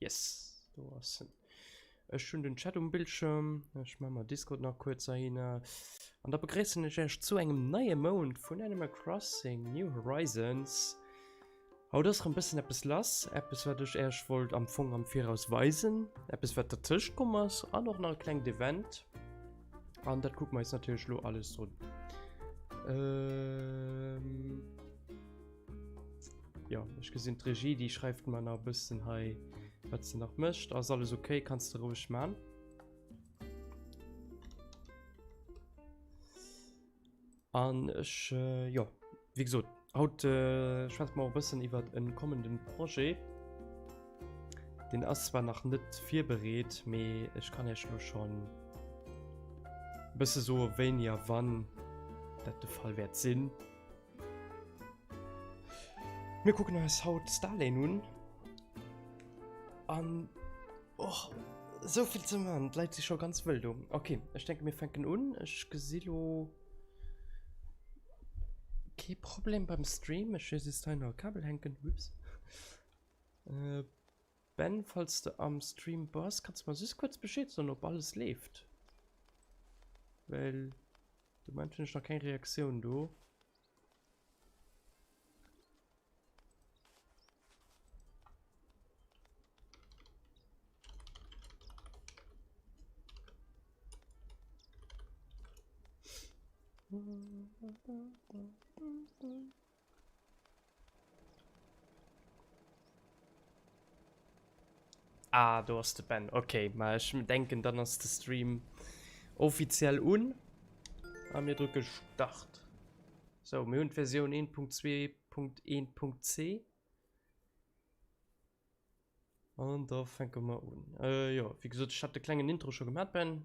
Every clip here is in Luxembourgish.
Yes, do ass en. Ech hunn den Chat um Bildschirm. Ech mache mal Discord nach kurz ahin. An da begréissen ech euch zu engem neie Mount vun Animal Crossing New Horizons. Haut ass rem bëssen eppes lass. Eppes wat ech euch wollt am Fong am Viraus weisen. Eppes wat dertëscht komm ass an och nach e klengt Event. An dat kucke mer eis natierlech lo alles un. Ähm... Ja, ich gesinn d'Regie, die schreift man a bëssen hei wat ze nach mëscht. Ass alles okay, kannst du ruhig man. An ech äh, ja wie gesot haut äh, schwätzt mal bëssen iwwer en kommenden Projet. Den ass zwar nach net virbereet, mee ech kann ech lo schon bësse so wéini a wann dat de Fall wäert sinn. Mir kucken eis haut d'Starlane un. An och souvill ze man, d'Leit si scho ganz wëll do. Okay, ech denke mir fänken un. Ech gesi lo kee Problem beim Stream. Ech hu just hei nach e Kabel hänken, ups. Äh. Ben falls de am Stream bass kanns de mer just kuerz Bescheed soen op alles leeft, well de Moment hunn ech nach keng Reaktioun do. Ah, do ass de Ben. Okay, ma ech denken, dann ass de Stream offiziell un. A mir drücke Start. So, mir hunn d'Versioun 1.2.1.c. An da fänke mer un. Äh, jo, wéi gesot, ech hat de klengen Intro scho gemat, Ben.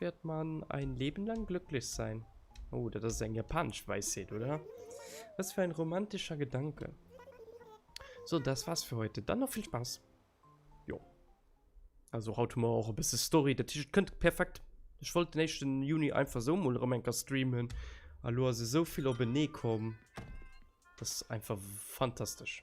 wird man ein Leben lang glücklich sein. Oh, das ist ein japanisch Weisheit, oder? Was für ein romantischer Gedanke. So, das war's für heute. Dann noch viel Spaß. Jo. Also haut mal auch ein bisschen Story. Das T-Shirt könnte perfekt. Ich wollte den nächsten Juni einfach so mal Romanka streamen. Hallo, also so viel auf den kommen. Das ist einfach fantastisch.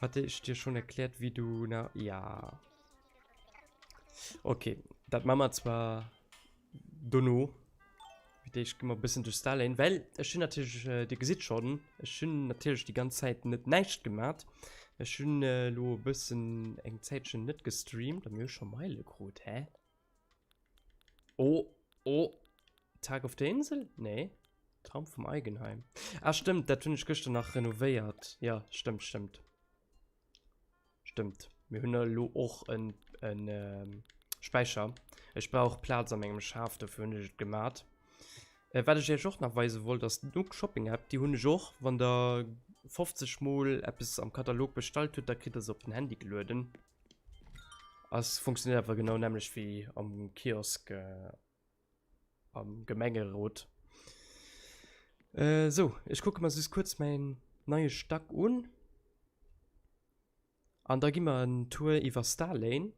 Hat ich dir schon erklärt, wie du na... Ja. Okay, dat machen wir zwar dono. Ich gehe mal ein bisschen durch Starlane, weil ich bin natürlich, äh, ihr seht schon, ich bin natürlich die ganze Zeit nicht nichts gemacht. Ich bin äh, lo ein bisschen eng Zeitchen nicht gestreamt, da mir schon Meile krut, hä? Oh, oh. Tag of the Insel? Nee. Traum vom Eigenheim. Ah, stimmt, dat hunn ech gëschter nach renovéiert. Ja, stimmt, stimmt. Stimmt. Mir hunn elo och en, en ähm, Späicher. Ech brauch Platz an mengem Schaf, dofir hunn ech et gemat. Äh, wat ech iech och nach weise wollt, ass d'Nook Shopping App, déi hunn ech och. Wann der 50 Mol eppes am Katalog bestallt hutt, da kritt der se op den Handy gelueden. Ass funktioniert einfach genau nämlich wie am Kiosk äh, am Gemengerot. Äh, so, ich gucke mal süß kurz meinen neuen Stack un. An da gehen wir einen Tour über Starlane.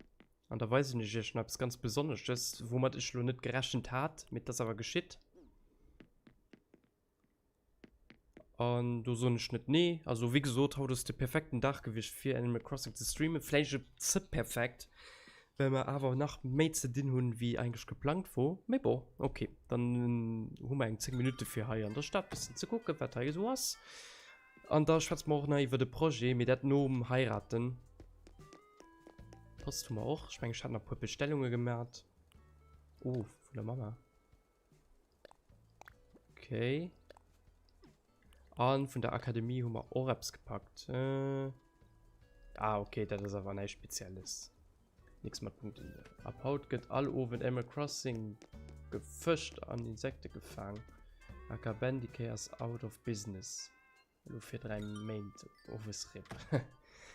An da weisen ech iech schnaps ganz besonnesches, womit ich lo net gerechnet hat, mit das aber geschitt. An do soen ech net nee. Also wéi gesot, haut ass de perfekten Dag gewiescht fir Animal Crossing ze streamen. Vläicht e ze perfekt, well mer awer nach méi ze dinn hunn, wéi eigentlech geplangt wor. Mee bon, ok, dann hu mer eng 10 Minutte fir hei an der Stad e bëssen ze kucken, wat hei esou ass. An da schwätze mer och nach iwwert e Projet, mee dat nom Heiraten. D'Post hu mer och. Ech mengen, ech hat nach e puer Bestellunge gemat. Oh, vun der Mama. Okay. An vun der Akademie hu mer Oreps gepackt. Äh. Ah, okay, dat ass awer neist Spezielles. Nix mat Punkten. Ab haut gëtt all Owen Animal Crossing gefëscht an Insekte gefaang. Aka Bendy K ass out of business. Lo fir 3 Méint owes rip.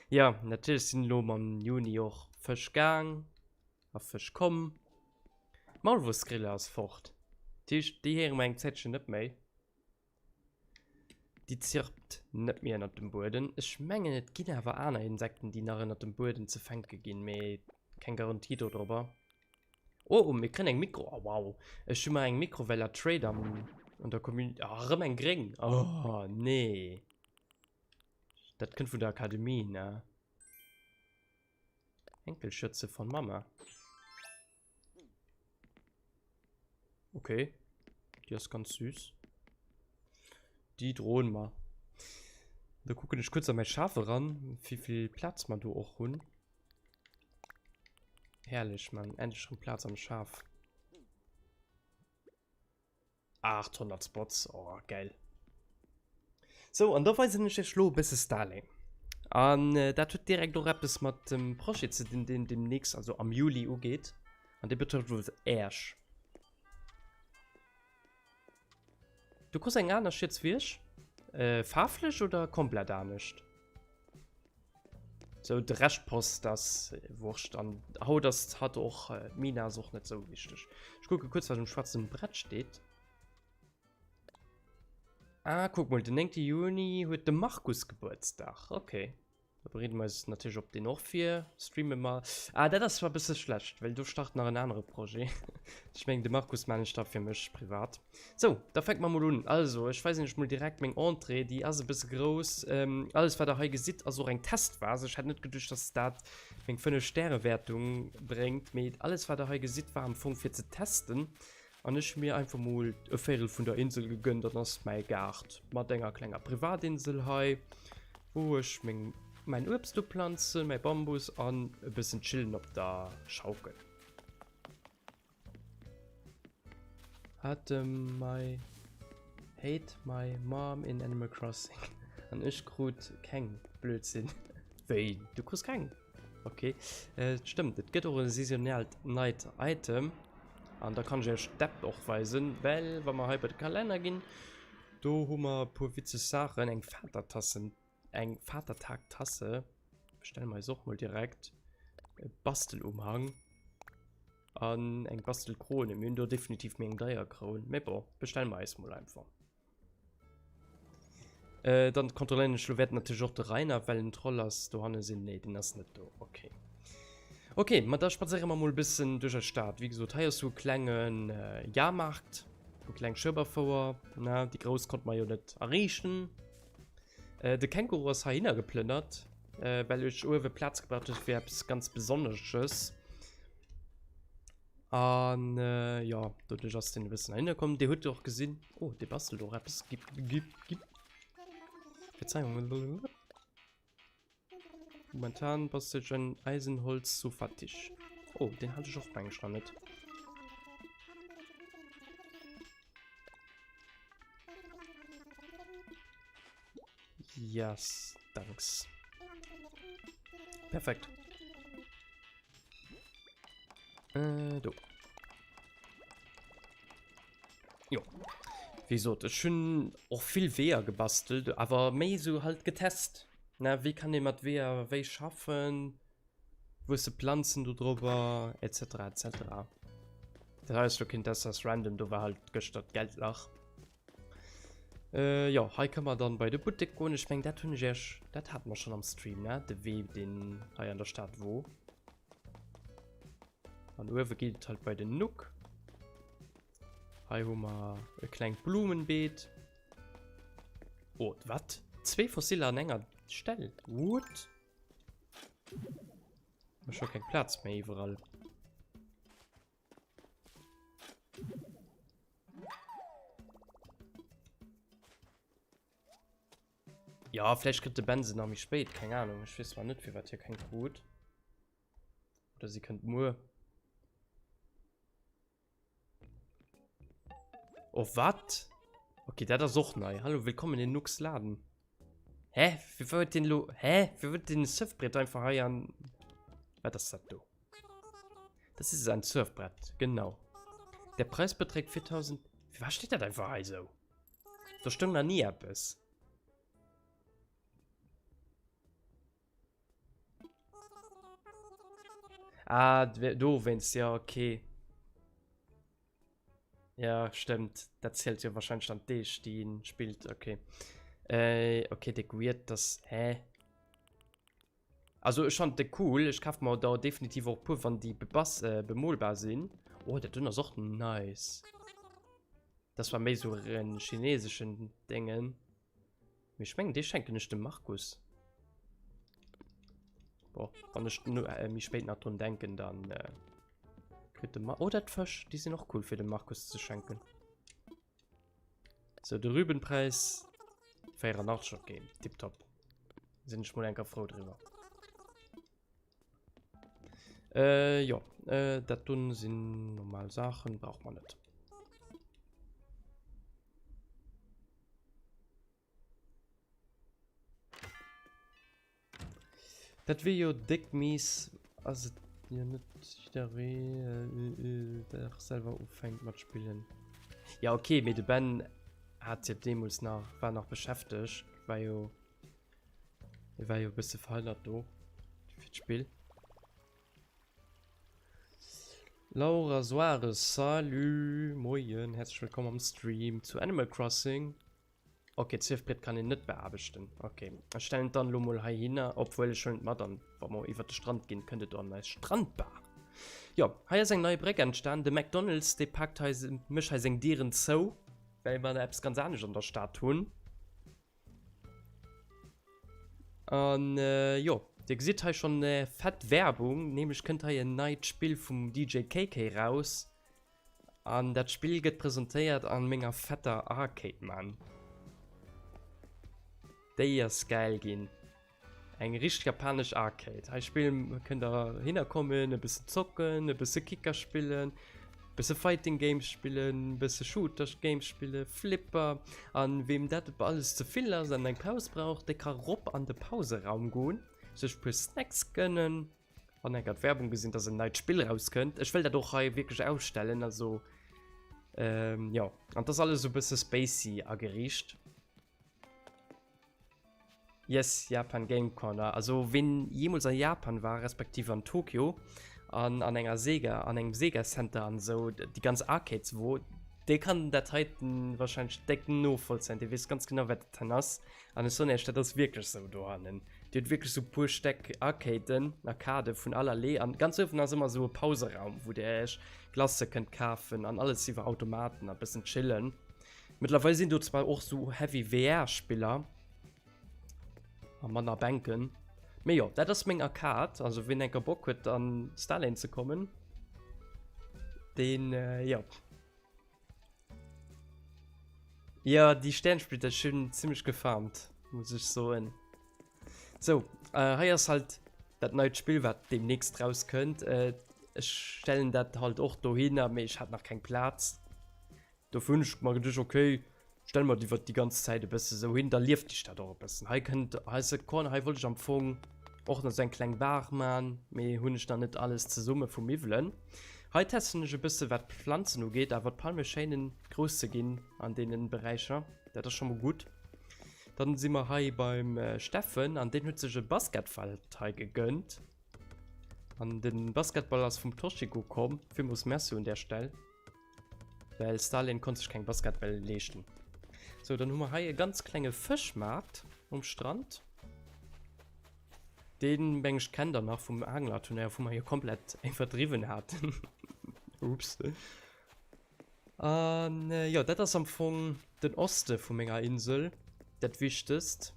Jo, natierlech sinn elo mam Juni och Fësch gaang a Fësch komm. D'Maulwursgrille ass fort. Dat heescht, déi héiere mer eng Zäitchen net méi. Déi zirpt net méi ënnert dem Bueden. Ech mengen, et ginn awer aner Insekten, déi nach ënnert dem Bueden ze fänke ginn, mee keng Garantie dodrobber. Oh, oh, mir kriegen eng Mikro. Oh, wow. Ech hun mal eng Mikro, well er Trade am, an der Community. Oh, ah, rem eng Gring. Oh, nee. Dat kënnt vun der Akademie, ne? Enkelschürze von Mama. Okay. Die ist ganz süß. Die drohen mal. Da gucken ich kurz an mein Schafe ran, wie viel Platz man da auch hun. Herrlech, man. Endlich schon Platz am Schaf. 800 Spots. Oh, geil. So, an da weisen ich euch lo bisschen Starlink. An äh, dat huet direkt auch etwas mit dem Projet zu den, den demnächst, also am Juli ugeht. An der betrifft wohl Ersch. Du kos eng aner Schietswiersch? Äh, faarflech oder komplett anescht? So, de Recht passt, ass wurscht. An haut ass hat och, äh, d'Mina ass och net sou wichteg. Ech kucke kuerz, wat um schwaarzen Brett steet. Ah, kuck mol, den 9. Juni huet de Markus Gebuertsdag. Okay. Da bereeden mer eis natierlech op deen och vir. Streame mer. Ah, dat ass zwar e bësse schlecht, well do start nach en anere Projet. Ech mengen, de Markus man ech da fir mech privat. Sou, da fänke mer mol un. Also, ech weisen iech mol direkt meng Entrée. Déi ass e bësse grouss. Alles, wat der hei gesitt, ass och eng Testphas. Ech hätt net geduecht, dass dat meng fënnef Stäre-Wäertung bréngt. Mee alles, wat der hei gesitt, war am Fong fir ze testen. An ech mir einfach mol e Véirel vun der Insel gegönnt, dann ass mäi Gaart mat enger klenger Privatinsel hei, wou ech meng mäin Uebst uplanzen, mäi Bambus an e bëssen chillen op der Schaukel. Hat dem my hate my mom in Animal Crossing an ech krut keng, Blödsinn. Wéi, du krus keng? Ok, et stëmmt, et gëtt och e saisonalt neit Item. An da kann ech iech d'App och weisen, well wa mer hei bei de Kalenner ginn, do hu mer e puer witzeg Saachen. Eng Vatertassen, eng Vatertagtasse bestelle mer eis och mol direkt. E Bastelumhang an eng Bastelkrone. Mir hunn do definitiv méi eng deier Kroun, mä bon, bestelle mer eis mol einfach. Äh, dann kontrolléieren ech lo währten natierlech och de Rainer, well en Troll ass. Dohannen sinn, nee, deen ass net do, okay. Okay, ma da spadséiere mer mol e bëssen duerch eis Stad. Wéi gesot, hei ass sou e klengen Jahrmarkt, sou e kleng Schueberfouer, na, déi grouss konnte mer jo net erreechen. De Känguru ass heihinner geplënnert, well ech uewe Plaz gebraucht hunn fir eppes ganz Besonnesches. An äh, jo, doduerch ass den e bëssen hinne komm. Dir huet och gesinn. Oh, dee bastelt och eppes. Gib, gib, gib. Verzeihung. Momentan bastelt en Eisenholz zu fattig. Oh, den hat ech och bang schon net. Yes, thanks. Perfekt. Äh, do. Jo. Wie gesagt, ich schon auch viel Wehr gebastelt, aber mehr so halt getest. Na, wie kann ich mit Wehr, wie schaffen? Wo sind Pflanzen da drüber? Etc. etc. Das heißt, du könntest das random, du war halt gestern Geldlach. Äh, jo, hei kënn mer dann bei de Buttek goen. Ech meng, dat hunn ech iech, dat haten mer schonn am Stream, ne, de Wee, deen hei an der Stad wor. An uewe geet et halt bei den Nuck. Hei hu mer e klengt Blumenbeet. Oh, wat? Zwee Fossile an enger Stell? What? Ech hu keng Plaz méi iwwerall. Ja, vielleicht kriegt der Benson nach mich spät. Keine Ahnung. Ich weiß zwar nicht, wie weit hier kein Krut. Oder sie könnt nur. Oh, was? Okay, der ist auch neu. Hallo, willkommen in Nux Laden. Hä? Wie wird den Lo. Hä? Wie wird den Surfbrett einfach heiern? Was ist das da? Das ist ein Surfbrett, genau. Der Preis beträgt 4000. Für was steht das einfach hei so? Da stimmt noch nie etwas. Ah, du wennst ja, okay. Ja, stimmt. Das zählt ja wahrscheinlich dann die, die spielt, okay. Äh, okay, der Weird, das, hä? Also ech fand de cool, ech kaf mer der definitiv och puer wann déi bebass äh bemoolbar sinn. Oh dat dunn ass och nice. Das war méi sou en chineseschen dengen. Mee ech mengen dee schenken ech dem Markus. Boah wann ech nu äh méi spéit nach drun denken dann äh kritt de Mar oh dat d'Fësch déi sinn och cool fir dem Markus ze schenken. So de Rübenpreis 84 okay, tip top. Sinn ech mol enker frou driwwer. Äh, jo, äh, dat dunn sinn normal Sachen brauch man net. Dat wéi jo déck mies as et jo net jider wee der selwer ufänkt mat spillen. Ja ok mee de Ben hat jo deemols nach war nach beschäfteg war jo hie war jo e bësse verhënnert do fir d'Spill. Laura Soares, salut, moien, herzlech wëllkomm am Stream zu Animal Crossing. Ok, d'Surfbrett kann een net beaarbechten. Ok, ech stellen et dann elo mol heihinner, obwuel ech huelen et mat an wa mer iwwert de Strand ginn, kënnt et an eis Strandbar. Jo, hei ass eng nei Bréck entstan. De McDonald's, dee paakt hei, mécht hei seng Dieren zou, well mer eppes ganz anescht an der Stad hunn. An jo, Dir gesitt hei schonn fett Werbung, nämlech kënnt hei en neit Spill vum DJ KK raus. An dat Spill gëtt presentéiert an menger fetter Arcade man. Déi ass gäil ginn. Eng richteg japanesch Arcade. Hei spillen kënnt der hinner kommen, e bëssen zocken, e bësse Kicker spillen, bësse Fighting Games spillen, bësse Shooter Games spillen, Flipper. An weem dat alles ze vill ass an eng Paus brauch, dee ka rop an de Pauseraum goen, sech puer Snacks gënnen. An eng hat Werbung gesinn, dass en neit Spill rauskënnt. Ech wëll dat och hei wierklech ausstellen, also ähm, jo. An t'ass alles esou e bësse spacey ageriicht. Yes, Japan Game Corner. Also ween jeemools a Japan war, respektiv an Tokyo, an an enger Sega, an engem Sega Center an esou, déi ganz Arcades wor, dee kann dat heiten warscheinlech déck novollzéien, dee weess ganz genau wat dat hei ass. An ech soen Iech, dat ass wierklech esou dohannen. Dir hutt wierklech esou e puer Stäck Arcaden, Arcadë vun aller Lee. An ganz uewen ass ëmmer esou e Pauseraum, wou Dir Iech Glacë kënnt kafen an alles iwwer Automaten a bëssen chillen. Mëttlerweil sinn do zwar och esou heavy VR-Spiller a manner Bänken. Mee jo, dat ass meng Arcade. Also wien enker Bock huet an Starlane ze kommen, deen, jo. Ja, déi Stäernsplitter hunn zimmlech gefarmt, muss ech soen. Sou, hei ass halt dat neit Spill, wat deemnächst rauskënnt. Ech stellen dat halt och dohinner, mee ech hat nach keng Plaz. Dofir hunn ech mer geduecht, okay, Stell mer die die ganz Zeit e bësse sou hin, da lieft die Stadt och e bëssen. Hei kënnt hei ass e Corner, hei wollt ech am Fong och nach sou eng kleng Baach man, mee hunn ech nach net alles zesumme vu Miwwelen. Hei testen ech e bësse wat d'Pflanzen ugeet, awer d'Palme schéinen grouss ze ginn an deenen Beräicher, dat ass scho mol gutt. Dann si mer hei beim Steffen an deen huet sech e Basketfeld hei gegënnt an den Basketball ass vum Toshiko komm, villmols Merci un där Stell. Well Stalin konnt sech keng Basketbäll leeschten. So, dann hu mer hei e ganz klenge Fëschmaart um Strand. Dee meng ech kennt der nach vum Anglerturnéier, wou mer jo komplett eng verdriwwen haten. Ups. An jo, dat ass am Fong Den Oste vu menger Insel, dat Wichtegst.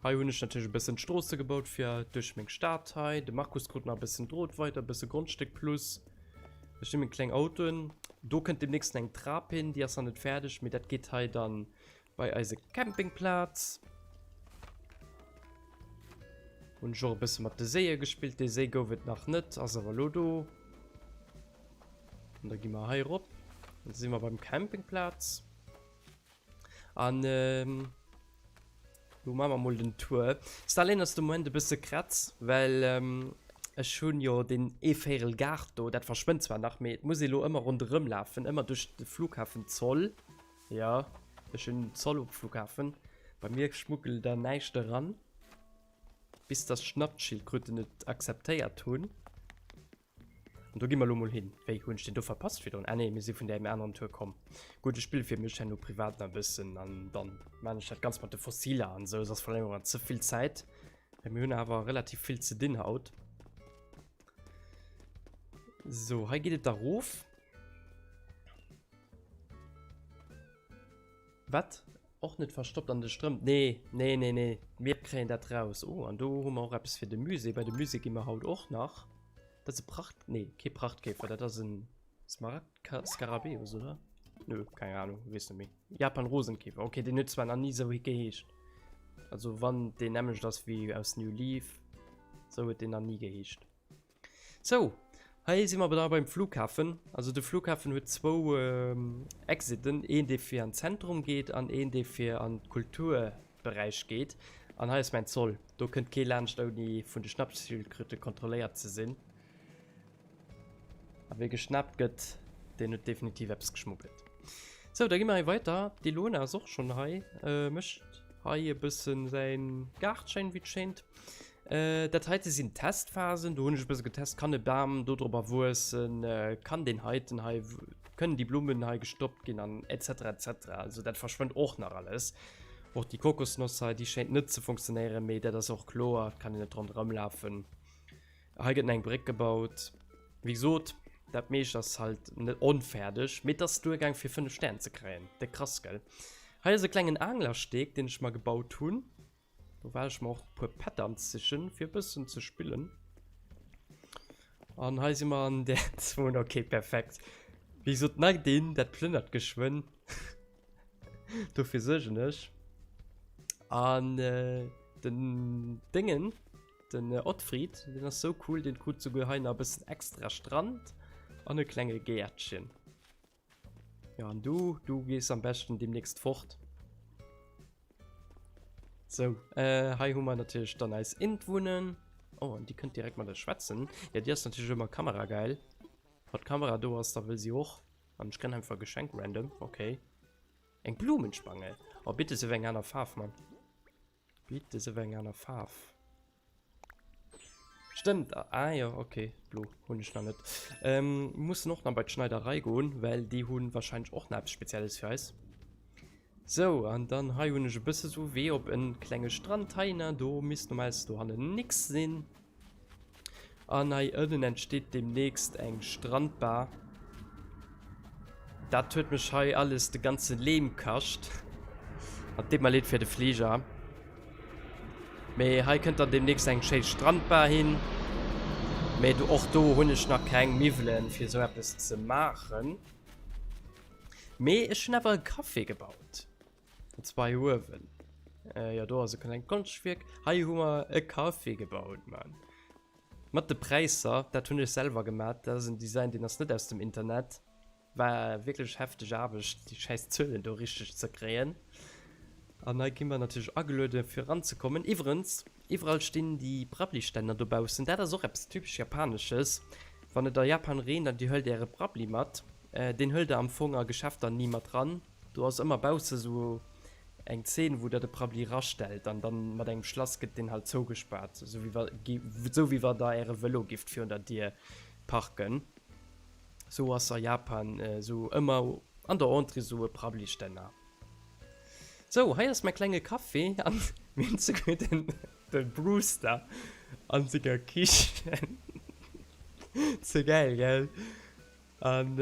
Hei hunn ech natierlech e bëssen d'Stroosse gebaut fir duerch meng Stad hei. De Markus krut nach e bëssen Drot weider, e bësse Grondstéck plus. Ech hu meng kleng Autoen. Do kënnt deemnächst eng Trap hin, déi ass nach net fäerdeg, mee dat geet hei da bei eise Campingplatz. Hunn ech och e bësse mat de Séie gespillt. Dee Séi gouf et nach net, ass awer elo do. Und da gi mer hei rop. Da si mer beim Campingplatz. An ähm, lo ma mer mol den Tour. Stalin ass de Moment e bësse kratz, well ähm, ech hunn jo den Eeféierel Gaart do, dat verschwënnt zwar nach, mee et muss ee lo ëmmer ronderëm lafen, ëmmer duerch de Flughafen Zoll. Ja, ech hunn Zoll um Flughafen. Bei mir schmuggelt da näischt eran. Bis dass Schnappschildkröten et akzeptéiert hunn. An do gi mer lo mol hin. Wéi, hunn ech deen do verpasst virdrun? Ah nee, mir si vun där anerem Tour komm. Gutt, ech spille fir mech herno privat nach e bëssen an dann maan ech dat Ganzt mat de Fossiler an esou. Soss verléiere mer ze vill Zäit, well mir hunn awer relativ vill ze dinn haut. Sou, hei geet et da rof. Wat? Och net verstoppt an de Strëmp. Nee, nee, nee, nee. Mir kréien dat raus. Oh, an do hu mer och eppes fir de Musée. Bei de Musée gi mer haut och nach. Dat ass e Pracht... Nee, kee Prachtkäfer. Dat ass e Smaragd-Skarabäus, oder? Nö, keng Ahnung. Weess net méi. Japan-Rosenkäfer. Okay, deen huet zwar nach ni sou geheescht. Also, wann deen nämmlecht ass wéi aus New Leaf, sou huet deen nach ni geheescht. Sou, hei si mer awer da beim Flughafen. Also de Flughafen huet zwou Exiten, een dee fir an d'Zentrum geet an een dee fir an d'Kulturberäich geet. An hei ass mäin Zoll, do kënnt kee laanscht ouni vun de Schnappschildkröte kontrolléiert ze sinn. A wee geschnappt gëtt, deen huet definitiv eppes geschmuggelt. Sou, da gi mer hei weider. D'Ilona ass och schonn hei, mécht hei e bësse säi Gaart schéin, wéi et schéint. Äh, dat heite sinn d'Testphasen. Do hunn ech e bësse getest, kann e Bam dodrobber wuessen, kann deen heiten hei, kënnen déi Blummen hei gestoppt ginn an et cetera et cetera. Also dat verschwënnt och nach alles. Och déi Kokosnoss hei, déi schéint net ze funktionéieren, mee dat ass och kloer, et kann een net ronderëm lafen. Hei gëtt nach eng Bréck gebaut. Wéi gesot, dat meescht ass halt net onfäerdeg, mee et ass duergaang fir 5 Stär ze kréien. Déck krass, gell? Hei ass e klengen Anglersteg, deen ech mer gebaut hunn. Do well ech mer och e puer Patterns sichen fir e bëssen ze spillen. An hei si mer an der Zone. Okay, perfekt. Wéi gesot, neigt een, dat plënnert geschwënn. Dofir suergen ech. An äh, den Dingen, den äh, Ottfried, den ass so cool, den krut souguer hei nach e bëssen extra Strand an e klenge Gäertchen. Ja, an du, du gees am besten demnächst fort. So, äh, hei hu mer natierlech dann eis Intwunnen. Oh, an déi kënnt direkt mat der schwätzen. Ja, Dir ass natierlech ëmmer Kamera geil. Wat d'Kamera do ass, da wëll si och. An ech kënn einfach Geschenk random, okay. Eng Blumenspange. Oh, bitte sou eng aner Faarf, Mann. Bitt des ewéi eng aner Faarf. Stëmmt, ah jo, okay, blo hunn ech nach net. Ähm, mussen och nach bei d'Schneiderei goen, well déi hunn wahrscheinlech och nach eppes Spezielles fir eis. Sou, an dann hei hunn ech e bësse sou wéi op en klenge Strand. Hei na, do misst normalerweise do hannen nix sinn. An hei ënnen entsteet demnächst eng Strandbar. Dat huet mech hei alles de ganze Lehm kascht. An deet mer leed fir de Flieger. Mee hei kënnt dann demnächst eng schéi Strandbar hin. Mee du och do hunn ech nach keng Miwwelen fir esou eppes ze maachen. Mee ech hunn awer e Café gebaut. Den zwei Uewen. Äh, ja, do ass e klein Konstwierk. Hei hu mer e Café gebaut, Mann. Mat de Präisser, dat hunn ech selwer gemat. Dat ass en Design, deen ass net aus dem Internet. War wierklech hefteg Aarbecht, déi schäiss Zuelen do richteg ze kréien. An hei gi mer natierlech ageluede fir eranzekommen. Iwwerens, iwwerall stinn déi Brabbli-Stänner dobaussen. Dat ass och eppes typesch Japanesches. Wann et a Japan reent an Dir huelt Äre Brabbli mat, deen huelt Der am Fong a Geschäfter ni mat ran. Do ass ëmmer bausse sou eng Zeen wou der de Prabbli rastellt an dann mat engem Schlass gëtt deen halt zougespaart sou wéi wa sou wéi wa der äre Velo gifft virun der Dier parken. Sou ass a Japan sou ëmmer an der Entrée sou e Prabbli Stänner. Sou hei ass mäi klenge Café an mir hunn souguer den den Brewster an senger Kichen. Ze gäil gell? An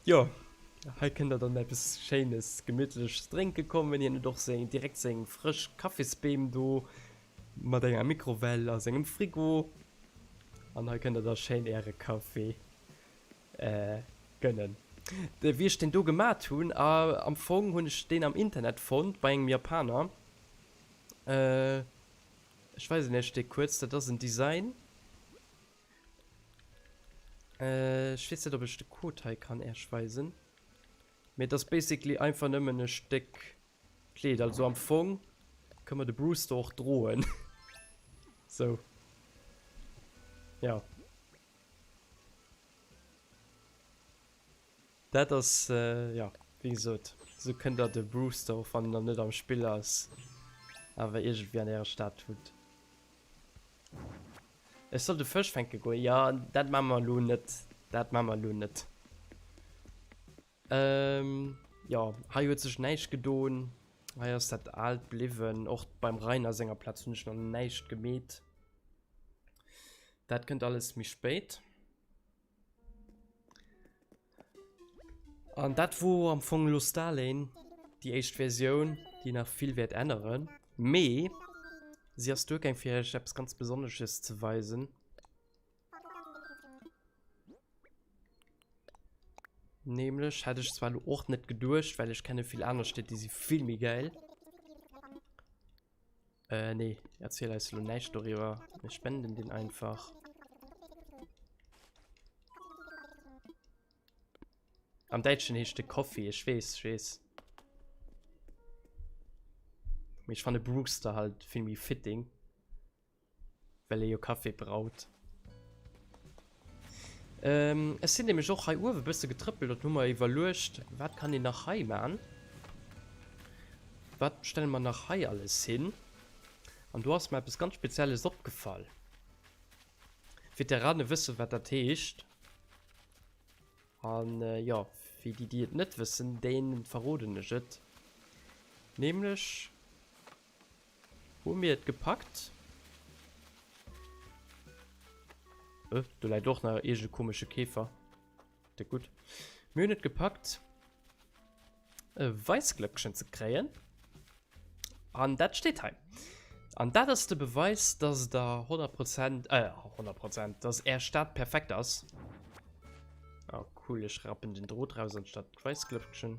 jo, hei kënnt der dann eppes schéines gemittleches drénke kommen. Hien huet och seng, direkt seng frësch Kaffisbeem do mat enger Mikrowell a sengem Frigo. An hei kënnt der da schéin äre Kaffee gënnen. Wéi ech deen do gemat hunn, am Fong hunn ech deen am Internet fonnt bei engem Japaner. Ech weisen iech dee kuerz, dat ass en Design. Äh, ech weess net op ech de Code hei kann Äerch weisen. Mee et ass basically einfach nëmmen e Stéck Kleed. Also am Fong kënn mer de Brewster och droen. Sou. Jo. Dat ass, jo, wéi gesot, esou kënnt der de Brewster och wann en dann net am Spill ass, awer iergendwéi an äre Stad hutt. Ech soll de Fësch fänke goen? Jo, dat maache mer elo net, dat maache mer elo net. Ehm, jo, hei huet sech näischt gedon, hei ass dat Aalt bliwwen. Och beim Rainer senger Plaz hunn ech nach näischt gemeet. Dat kënnt alles méi spéit. An dat wor am Fong elo Starlane, déi éischt Versioun, déi nach vill wäert änneren. Mee si ass duergaang fir iech eppes ganz Besonnesches ze weisen. Nämlech hätt ech zwar elo och net geduecht, well ech kenne vill aner Stied, déi si vill méi gäil. Äh, nee, erzähl eis lo näischt doriwwer. Mir spenden den einfach. Am Deutschen heescht de Coffee, ich wees, ich wees. Ich fand Brewster halt viel méi fitting. Well ee jo Kaffi braut. Ehm, ech sin nämlech och hei uewen e bësse getrëppelt an hun mer iwwerluecht, wat kann een nach hei maan? Wat stellen mer nach hei alles hin? An do ass mer eppes ganz Spezielles opgefall. Veteranen wëssen wat dat heescht. An jo, fir déi déi et net wëssen, deenen verroden ech et. Nämlech Hu mir et gepackt? Öh, do läit och nach iergende komesche Käfer. De gutt. Mir hunn et gepackt, e Weissglöckchen ze kréien. An dat steet hei. An dat ass de Beweis, dass der 100 Prozent, äh, 100 Prozent, dass är Stad perfekt ass. Oh, cool, ech rappen den Drot raus anstatt d'Weissglöckchen.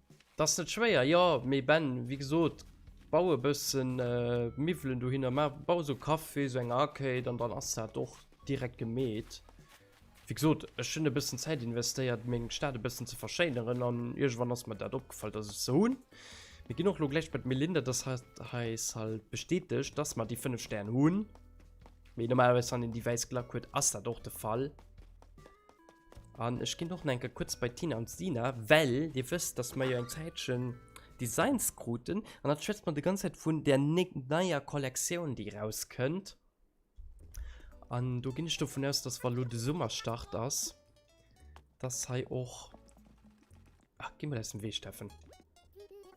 Dat ass net schwéier, jo. Mee Ben, wéi gesot, bau e bëssen Miwwelen dohinner. Maach, bau esou Café, esou eng Arcade an dann ass dat och direkt gemeet. Wéi gesot, ech hunn e bëssen Zäit investéiert, meng Stad e bëssen ze verschéineren an iergendwann ass mer dat opgefall, dass ech se hunn. Mir ginn och elo gläich bei d'Melinda, dass hat eis halt bestätegt, dass mer déi fënnef Stär hunn. Mee normalerweis, wann een déi wäiss Glack huet, ass dat och de Fall. An ech ginn och nach enke kuerz bei d'Tina an d'Sina, well Dir wësst, dass mer jo eng Zäitchen Designs kruten. An da schwätze mer déi ganz Zäit vun där neier Kollektioun, déi erauskënnt. An do ginn ech dovun aus, dass, wa lo de Summer Start ass, dass hei och... Ach, gi mol aus dem Wee, Steffen.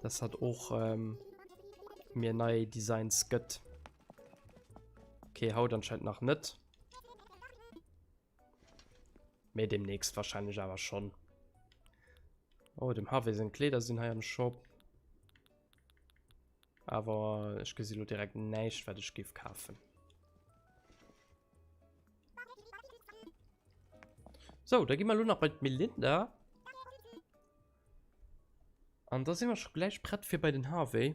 Dass hat och ähm, mir nei Designs gëtt. Okay, haut anscheinend nach net. Mee demnächst wahrscheinlich awer schon. Oh, dem Harvey seng Kleider sinn hei am Shop. Awer ech gesi lo direkt näischt, wat ech gif kafen. So, da gi mal lo nach bei d'Melinda. An da sinn wir schon gläich prett fir bei den Harvey.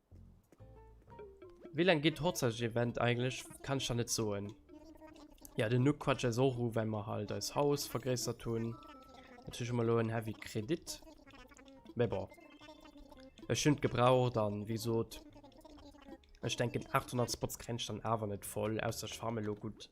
Wéi lang geet d'Hochzeitsevent eigentlich? Kann ich da net soen. Ja, den Nuck quatscht eis och u, well mer halt eis Haus vergréissert hunn. Natierlech hu mer elo en heavy Kredit. Mee bon. Ech hunn et gebraucht an wéi gesot, ech denken 800 Spots kréien ech dann awer net voll, ausser ech farme elo gutt.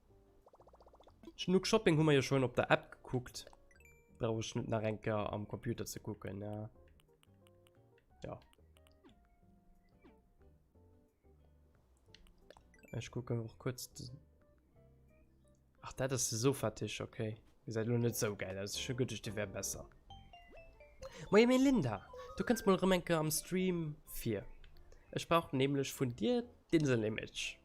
Schnuck Shopping hu mer jo schon op der App gekuckt. Brauch ech net nach enker am Computer ze kucken, ja. Ja. Ech kucken och kurz... Ach, dat ass de Sofatisch, okay. Ihr seid nur net so geil aus. Schon gut, ich, der wär besser. Moin Melinda, du kannst mal Remenke am Stream 4. Ich brauche nämlich von dir den Image.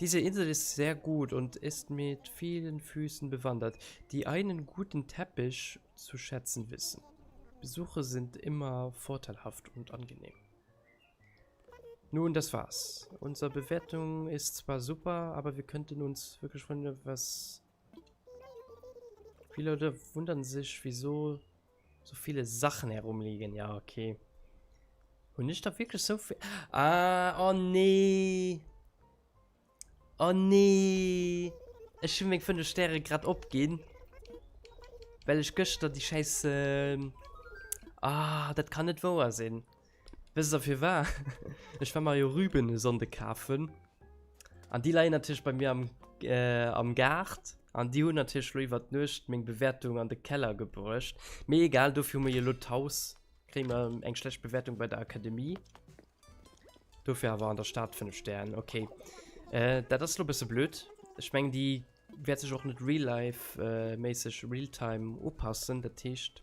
Diese Insel ist sehr gut und ist mit vielen Füßen bewandert, die einen guten Teppich zu schätzen wissen. Besuche sind immer vorteilhaft und angenehm. Nun, das war's. Unsere Bewertung ist zwar super, aber wir könnten uns wirklich von etwas Wie Leute wundern sich, wieso so viele Sachen herumliegen. Ja, okay. Und nicht da wirklich so viel... Ah, oh nee. Oh nee. Ich habe mir von den Sternen gerade abgehen. Weil ich gestern die scheiße... Ähm, ah, das kann nicht wahr sein. Wësst der firwar? Ech war Mario Rüben e Sonnde kafen. An déi leien natierlech bei mir am, äh, am Gaart. An déi hunn natierlech lo iwwer d'Nuecht meng Bewäertung an de Keller gebruecht. Mee egal, dofir hu mir jo lo d'Haus. Kréie mer eng schlecht Bewäertung bei der Akademie. Dofir awer an der Stad 5 Stern, okay. Äh, dat ass lo bësse blöd. Ech meng, déi wäert sech och net real-life, äh, méisseg, realtime upassen. Dat heescht.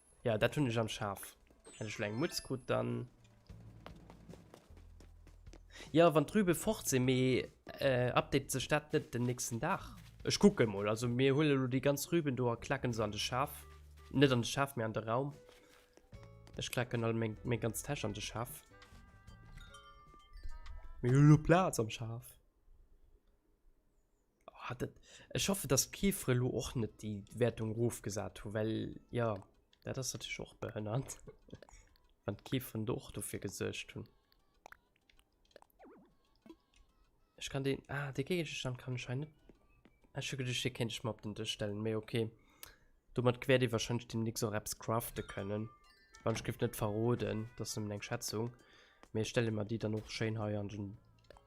Ja, dat hunn ech am Schaf. Hätt ech lo eng Mutz krut, dann. Ja, wann d'Rübe fort sinn, mee äh, updatet sech dat net den nächsten Dag? Ech kucke mol. Also, mir huele lo déi ganz Rüben do a klacken se an de Schaf. Net an de Schaf, mee an de Raum. Ech klacken all meng, meng ganz Täsch an de Schaf. Mir hu lo Plaz am Schaf. Ah, dat, ech hoffe, dass d'Chiffre elo och net déi Wäertung erofgesat hu, well, jo, dat ass natierlech och behënnert, wann d'Chiffren do och dofir gesuergt hunn. Ech kann deen, ah, dee Géigestand kann ech hei net. Ech hu geduecht, dee kéint ech mer op den Dësch stellen, mee okay. Domat wäert ee wahrscheinlech deemnächst och eppes crafte kënnen. Wann ech giff net verroden, dat ass nëmmen eng Schätzung. Mee ech stelle mer déi dann och schéin hei an den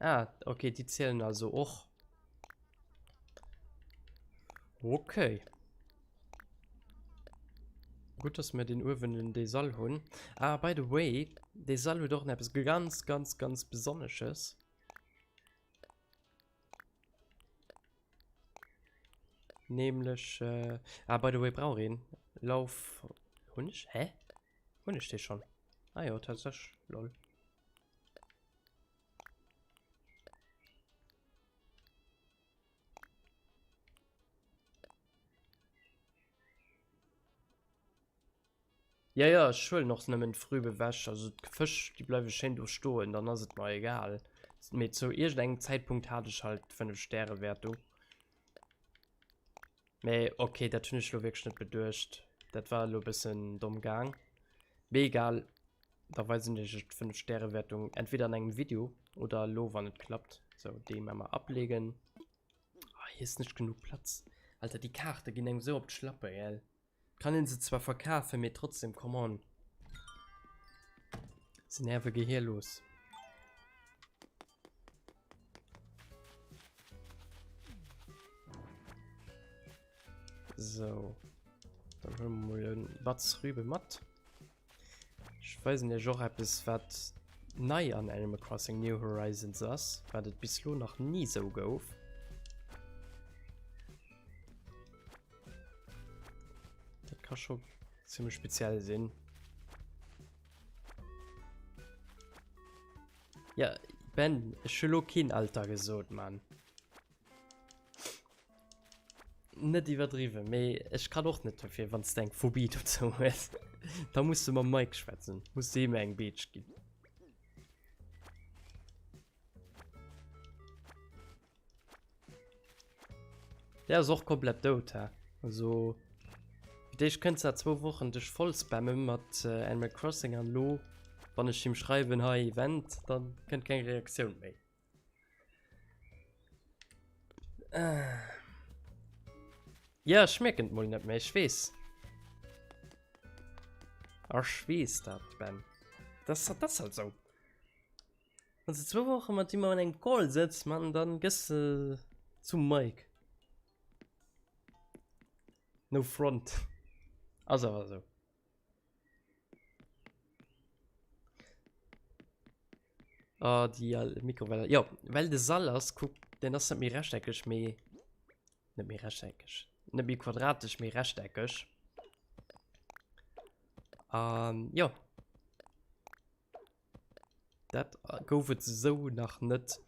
Ah, okay, die zählen also auch. Okay. Gut, dass wir den Uwen in den Sall haben. Ah, by the way, der Sall hat auch etwas ganz, ganz, ganz Besonderes. Nämlich, äh, ah, by the way, brauch ihn. Lauf. Hun ich? Hä? Hun ich den schon? Ah ja, tatsächlich. Lol. Ja ja ech huelen och nemmen d'Früh beweg, also d'Fësch déi bleiwen schéin do stoen, dann ass et mer egal, mee zou iergend engem Zäitpunkt hat ech halt 5 Stäre Wäert do. Mee ok, dat hunn ech lo wierklech net beduecht, dat war elo e bëssen domm gaang, mee egal, da weisen ech iech d'fënnef Stäre Wäertung entweder an engem Video oder elo wann et klappt. Sou déi emmer ablegen, ah hei ass net genuch Platz, Alter déi Kaarte ginn engem sou op d'Schlappe gell. Kann een se zwar verkafen, mee trotzdem, come on. Se nerven gehirlos. So. Dann holen wir mal einen Batz Rübe matt. Ech weisen iech och eppes wat nei an Animal Crossing New Horizons ass, wat et bis lo nach ni esou gouf. Dat kann scho ziemlich speziell sinn. Ja, Ben, ech hu lo keen Alter gesot, Mann. Net iwwerdriwwen, mee ech kann och net dofir wann s de eng Phobie dozou hues. Da muss de mam Mike schwätzen, muss de him eng Beetsch ginn. Der ass och komplett dout, hä? Also fir d'éischt kënnt sat zwou Wochen dech voll spamme mat Animal Crossing an elo wann ech him schreiwen hei Event, dann kënnt keng Reaktioun méi. Äh. Ja, ich merke es mal nicht mehr, ich weiß. Ach, ich weiß das, Ben. Das, das ist halt so. Also zwei Wochen mit ihm an einem Call sitzt, man, dann gehst du äh, zum Mike. No front. Also, also. Ah, die äh, Mikrowelle. Ja, weil de Sall ass, guck, den ass net méi rechteckeg, méi... Net méi rechteckeg. Net méi quadratisch, méi rechteckeg. Ähm, ja. Dat gouf et esou nach net.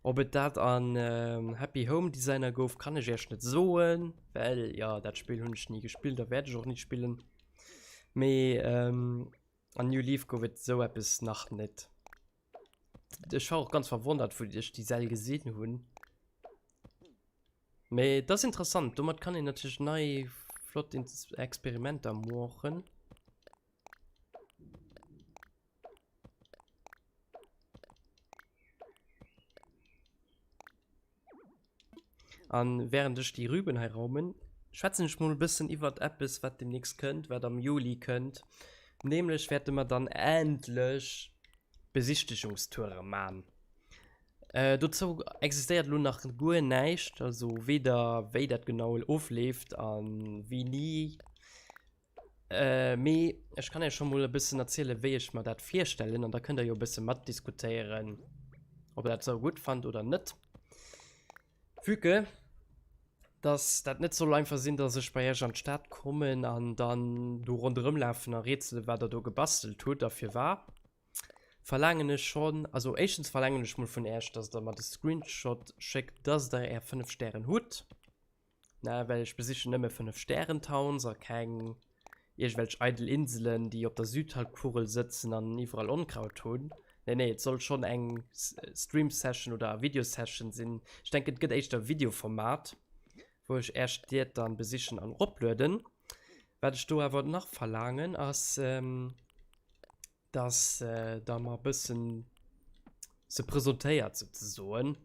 Ob et dat an ähm, Happy Home Designer gouf, kann ech Iech net soen, well ja dat Spill hunn ech ni gespillt a wäert ech och ni spillen. Mee ähm, an New Leaf gouf et esou eppes nach net. Ech war och ganz verwondert, wou ech déi Säll gesinn hunn. Mee dat ass interessant, domat kann een natierlech nei flott Experimenter moochen. An während ech déi Rüben hei raumen, schwätzen ech mol e bëssen iwwert eppes, wat demnächst kënnt, wat am Juli kënnt. Nämlech wäerte mer dann endlech Besichtigungstoure man. Äh, dozou existéiert lo nach guer näischt, also weder wéi dat genau ofleeft an wéini Mee ech kann Iech scho mol e bëssen erzielen, wéi ech mer dat virstellen, an da kënnt Der jo e bësse matdiskutéieren, ob Der dat esou gutt fannt oder net. Vue que dass dat net soll einfach sinn, dass ech bei Iech an d'Stad kommen an dann do ronderëmlafen a rätselen, wat Der do gebastelt hutt a firwat, verlaangen ech schonn, also éischtens verlaangen ech mol vun Iech, dass Der mer de Screenshot schéckt, dass Der Är fënnef Stären hutt. Na, well ech besichen nëmme fënnef Stären-Towns a keng iergwelch eidel Inselen, déi op der Südhalbkugel sëtzen an iwwerall Onkraut hunn. Nee, nee, et soll schonn eng Stream-Session oder Video-Session sinn. Ech denken, et gëtt éischter e Video-Format, wou ech Är Stied dann besichen an eroplueden. Wat ech do awer nach verlaangen, ass dass da mal bëssen se presentéiert so ze soen.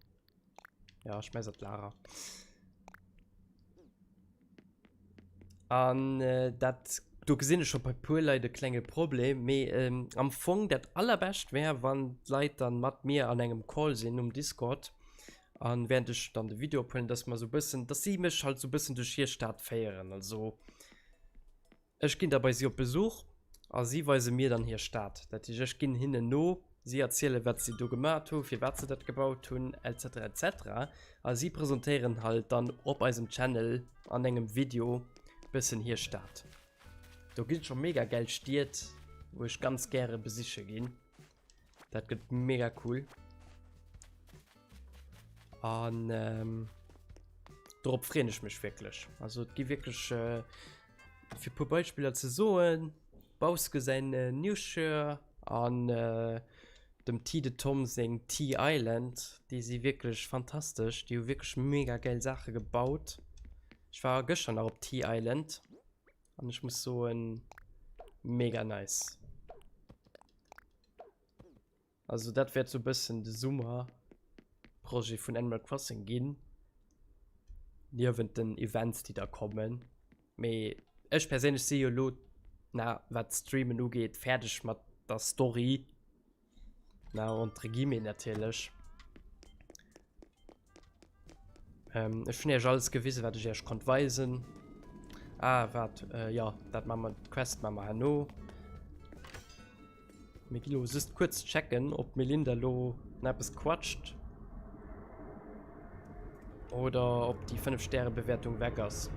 Ja, ich messe Lara. An äh, dat du gesinn schon bei pur Lei de klenge Problem me ähm, am Fong dat allerbescht wär wann Leiit dann mat mir an engem Call sinn um Discord an wären dech dann de Video pullen, dass man so bëssen dass sie mech halt so bëssen duch hier Staat féieren also Ech ginn da bei si op Besuch a si weise mir dann hir Stad. Dat heescht, ech ginn hinnen no, si erzielen, wat si do gemat hu, firwat se dat gebaut hunn, etc. Etc. A si presentéieren halt dann op eisem Channel an engem Video e bëssen hir Stad. Do gi scho mega gäil Stied, wou ech ganz gäre besiche ginn. Dat gëtt mega cool. An ähm, drop freen ech mech wieklech. Also gi wieklech äh, fir pu Beispieler ze soen, Baus gesäin äh, Newshire an äh, dem Ti de Tom seng Tea Island, déi si wieklech fantastesch, Di hu wieklech mega geil Sache gebaut. Ech war gëscher nach op Tea Island an ech muss soen, mega nice. Also dat wäert so bëssen de Summerprojet vun Animal Crossing ginn. Niewent den Events, déi da kommen. Mee ech perséinlech si jo lo, na wat d'Streamen ugeet, fäerdeg mat der Story. Na entre guillemets natierlech. Ähm, ech hun iech alles gewisen, wat ech iech konnt weisen. Ah, wat, äh, ja, dat ma mer, d'Quest ma mer herno. Mir gi lo just kurz checken, ob Melinda lo na eppes quatscht. Oder ob die 5 Sterne Bewertung weg ass.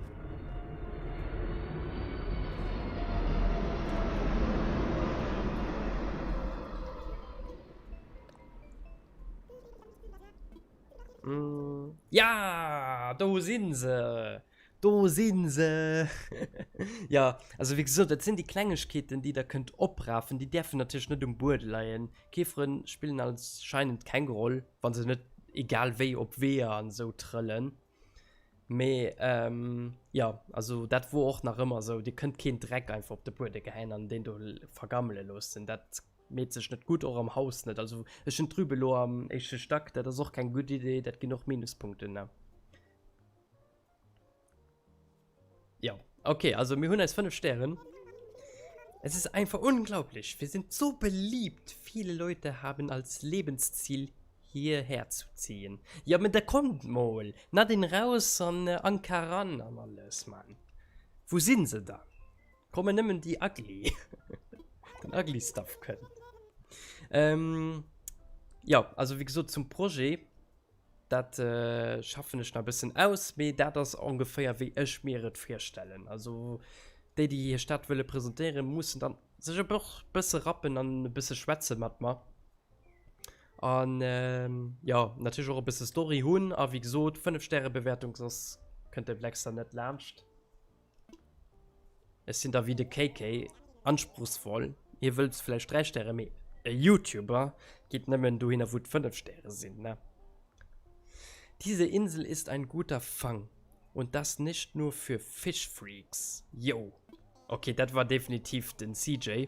Mm. Ja, do sinn se. Do sinn se. ja, also wie gesot, dat sinn déi Klengegkeeten, déi der kënnt oprafen. Déi däerfen natierlech net um Buede leien. Käferen spillen anscheinend keng Roll, wa se net egal wéi op Weeër an esou trëllen. Mee ähm, ja, also dat wor och nach ëmmer esou. Dir kënnt keen Dreck einfach op de Buede gehäien an deen do vergammele loossen. Dat. Meet sech net gudd, och am Haus net. Also ech hun d'Rübe lo am éischte Stack, dat ass och keng gudd Idee, dat gin och Minuspunkten da. Jo, ok, also mir hun eis 5 Stären. Es ist einfach unglaublich, wir sind so beliebt, viele Leute haben als Lebensziel hierher zu ziehen. Ja, aber da kommt mal, Nadine raus an Anke ran an alles, Mann. Wo sin se dann? Kommen nëmmen déi ugly. Den ugly stuff kënnt. Ähm, ja, also wie gesot zum Projet, dat äh, schaffen ech nach bëssen aus, mee dat ass ongeféier wéi ech mir et virstellen. Also déi, déi hir Stadt wëlle presentéieren, mussen dann sech e bësse rappen an e bësse schwätze mat mer. An ähm, ja, natierlech och e bësse Story hunn a wie gesot, 5 Stäre Bewertung, soss kënnt de Blackstar net laanscht. Ech sinn da wéi de KK, anspruchsvoll. Dir wëllt vläicht 3 Stäre, mee e Youtuber geet nëmmen dohinner, wou et 5 Stäre sinn, ne? Diese Insel ist ein guter Fang, und das nicht nur für Fish-Freaks. Yo! Okay, dat war definitiv den CJ.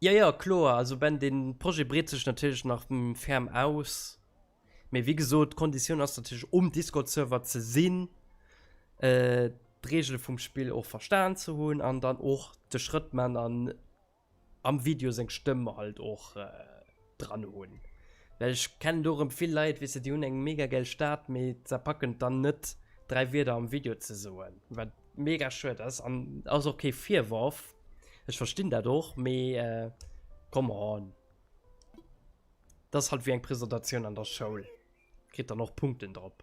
Jo, jo, kloer. Also ben, de Projet breet sech natierlech nach ferm aus. Mee wéi gesot, d'Konditioun ass natierlech, um Discord-Server ze sinn, d'Reegele vum Spill och verstan ze hunn an dann och de Schrëtt man an am Video seng Stëmm halt och dran hun well ech kennen do rem vill Leit wisse déi hun eng mega gäil Stad mee se packen et dann net 3 Wierder am Video ze soen wat mega schued ass an ass och kee Virworf ech verstinn dat och mee come on dass halt wéi eng Presentatioun an der Schoul kritt dann och Punkten drop.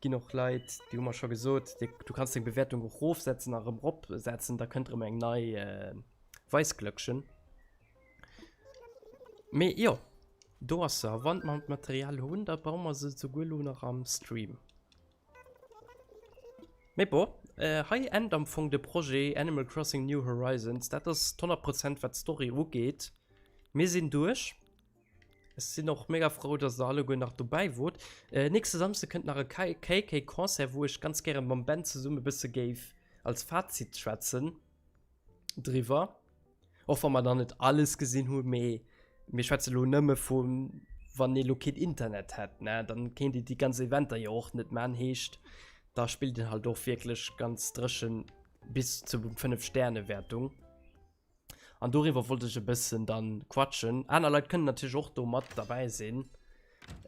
Ginn och Leit déi hu mer scho gesot, du kanns deng Bewäertung och rofsetzen a rëm rop setzen, da kënnt rëm eng nei Weisglöckchen. Mee jo, do ass se a wann mer d'Material hunn, da baue mer se souguer elo nach am Stream. Mee bon, hei ennt am Fong de Projet Animal Crossing New Horizons. Dat ass d'honnert Prozent wat d'Story ugeet. Mir sinn duerch. Ech sinn och mega frou, dass der alleguer nach dobäi wort. Äh, nächste Samsde kënnt nach e KK-Concert, wou ech ganz gäre mam Ben zesumme e bësse géif als Fazit schwätzen driwwer. Och wa mer nach net alles gesinn hunn, mee mir schwätze lo nëmme vu wann ee lo keen Internet hätt, ne? Dann kéint een déi ganz Eventer jo och net man. Heescht, da spillt een halt och wierklech ganz dréchen bis zu fënnef Sterne-Wäertung. An doriwwer wollt ech e bëssen dann quatschen. Aner Leit kënnen natierlech och do mat derbäi sinn.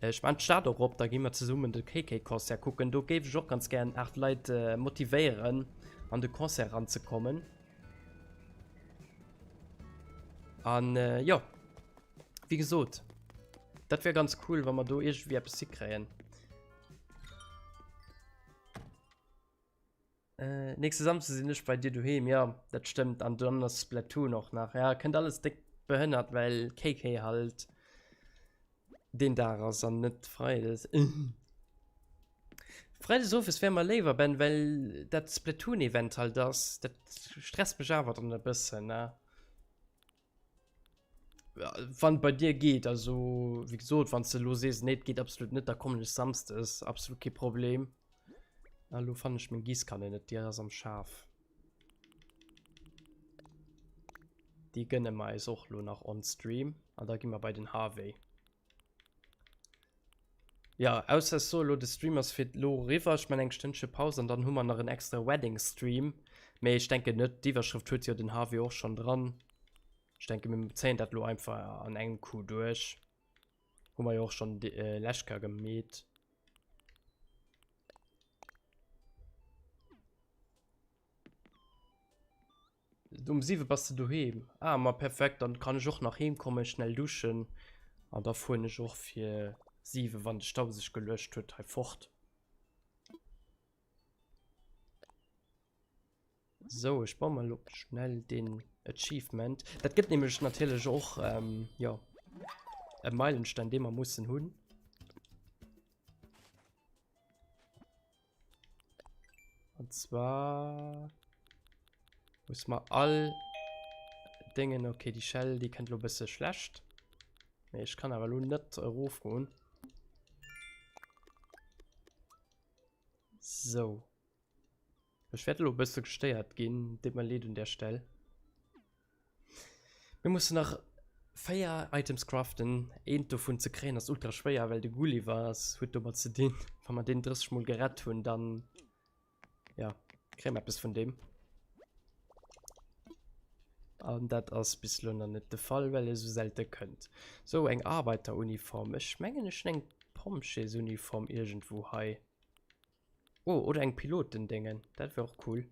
Ech maan d'Stad och op, da gi mer zesummen de KK Concert kucken. Do géif ech och ganz gären 8 Leit motivéieren an de Concert eran ze kommen. An jo, wéi gesot, dat wär ganz cool wa mer do iergendwéi eppes hikréien. Äh, nächste Samstag sinn ech bei dir doheem, jo, dat stëmmt, an dann ass Splatoon och nach. Ja, kënnt alles déck behënnert, well KK halt deen Dag ass an net Freides. Freides owes wär mer léiwer, Ben, well dat Splatoon-Event halt ass. Dat stresst mech awer dann e bëssen, ne? Wann bei dir geht also wie gesagt wann du los ist nicht geht absolut nicht da kommen ich samst ist absolut kein Problem Hallo fand ich mein Gieß kann nicht dir das am Schaf die gönnen meist auch nur nach on Stream und da gehen wir bei den Harvey Ja, ausser ech soe lo de Stream ass fir d'lo eriwwer, ech man eng Stënnche Paus an dann hu mer nach en extra Wedding Stream, mee ech denken net, d'Iwwerschrëft huet jo den Harvey och schonn dran. Ech denke mir zéien dat lo einfach an engem Coup duerch, hu mer jo och schonn de lech ka gemeet. Um 7 bass de doheem? Ah, ma perfekt, dann kann ech och nach heem kommen, schnell duschen an da fueren ech och fir 7, wann de Stau sech geluecht huet, hei fort. So, ech bauen mal op schnell den Achievement. Dat gëtt nämlech natierlech och, ähm, jo, e Meilenstein, dee mer mussen hunn. Und zwar muss man all Dingen, okay, die Shell, die kennt lo bisse schlecht. Nee, ich kann aber lo net erofgoen. So. Ich werde lo bisse gestéiert gin, dit mal leed un der Stelle. Mir mussen nach 4 Items craften, eent dovun ze kréien ass ultra schwéier well de Gulliver ass, huet domat ze dinn, wa mer deen 30 mol gerett hunn dann jo kréie mer eppes vun deem. An dat ass bis elo nach net de Fall well e sou selte kënnt. Sou eng Arbeiteruniform, ech mengen ech hunn eng Pompjeesuniform iergendwou hei. Oh oder eng Pilotendéngen, dat wär och cool.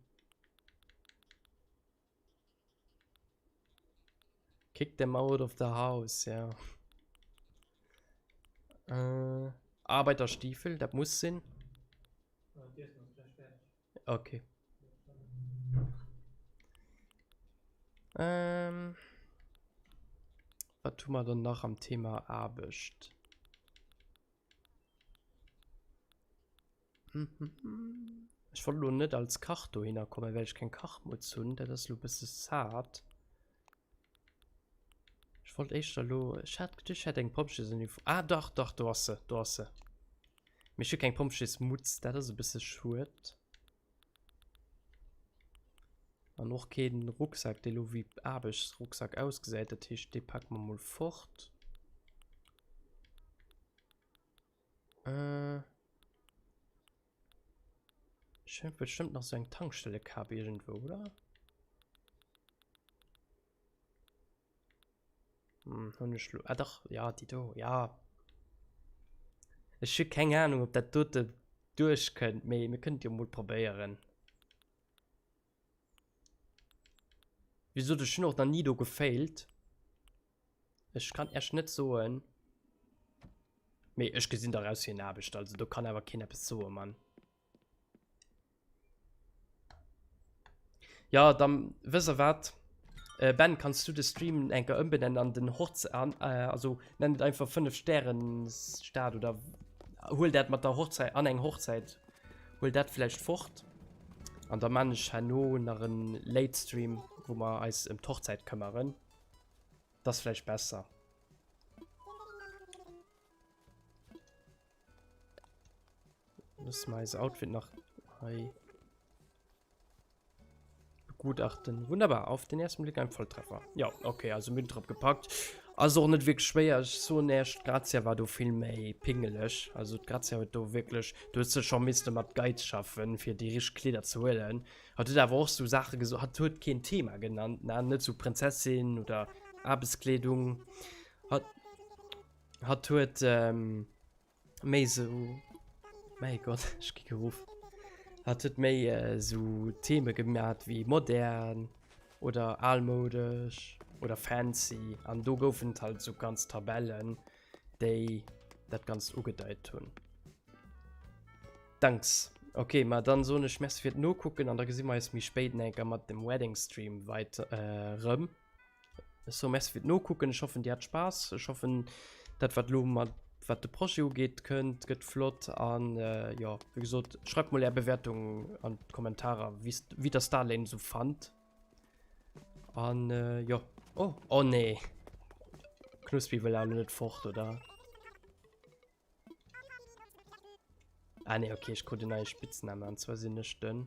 Kick them out of the house, ja. Äh, Arbeiterstiefel, das muss sein. Okay. Ähm, was tun wir dann noch am Thema Arbeit? Ech wollt lo net als Kach dohinner kommen, well ech keng Kachmutz hunn. Dat ass lo e bësse sad. Ech wollt éischter lo... Ech hat geduecht, ech hätt eng Pompjeesuniform. Ah, dach, dach, do ass se, do ass se. Mee ech hu keng Pompjeesmutz, dat ass e bësse schued. An och keen Rucksak, dee lo wéi Aarbechtsrucksak ausgesäit. Dat heescht, dee packe mer mol fort. Äh. Scheint bestimmt nach so eng Tankstelle gehabt irgendwo, oder? Hm, hun ich ah, doch, ja, die do, ja. Ich habe keine Ahnung, ob das dort durchkönnt, aber wir können ja mal probieren. Wie gesot ech hunn och nach ni do gefailt. Ech kann echt net soen. Mee ech gesinn daraus hir Aarbecht, also do kann awer keen eppes soe Mann. Ja, dann wësst der wat? Äh, Ben, kannst du de Stream enker ëmbenennen an den Horz an, äh, also nenn et einfach 5 Stären Stad oder huel dat mat der Hochzäit an eng Hochzäit. Huel dat vläicht fort an da man ech herno nach en Late Stream, wou mer eis em d'Hochzäit këmmeren. Dat ass vläicht besser. Loosse mer eise Outfit nach hei. Begutachten. Wunderbar. Auf den ersten Blick ein Volltreffer. Ja, okay, also Müll drauf gepackt. Also auch nicht wirklich schwer. Ich so nicht. Grazia war du viel mehr pingelig. Also Grazia hat du wirklich. Du hast schon müssen mit Geiz schaffen, für die richtigen Kleider zu holen. Hat du aber auch so Sachen gesagt? Hat du kein Thema genannt? Nein, nicht so Prinzessin oder Arbeitskleidung. Hat. Hat du. Ähm, méi so mei Gott ech gi geruff hat huet méi so Theme gemat wéi modern oder almoudesch oder fancy an do goufen et halt sou ganz Tabellen déi dat ganz ugedeit hunn. Danks. Ok ma dann soen ech merci fir d'Nokucken an da gesi mer eis méi spéit eng Kéier mat dem Wedding Stream weiter erëm. So merci fir d'Nokucken, ech hoffen dir hat Spaass, ech hoffen dat wat lo mat wat de Projet ugeet kënnt gëtt flott an jo wéi gesot schreibt mol är Bewertung an d'Kommentarer wie's wéi der Starlane sou fannt an jo oh oh nee Knuspi wëll awer lo net fort oder? Ah nee ok ech krut en neie Spitznamen an zwar sinn ech den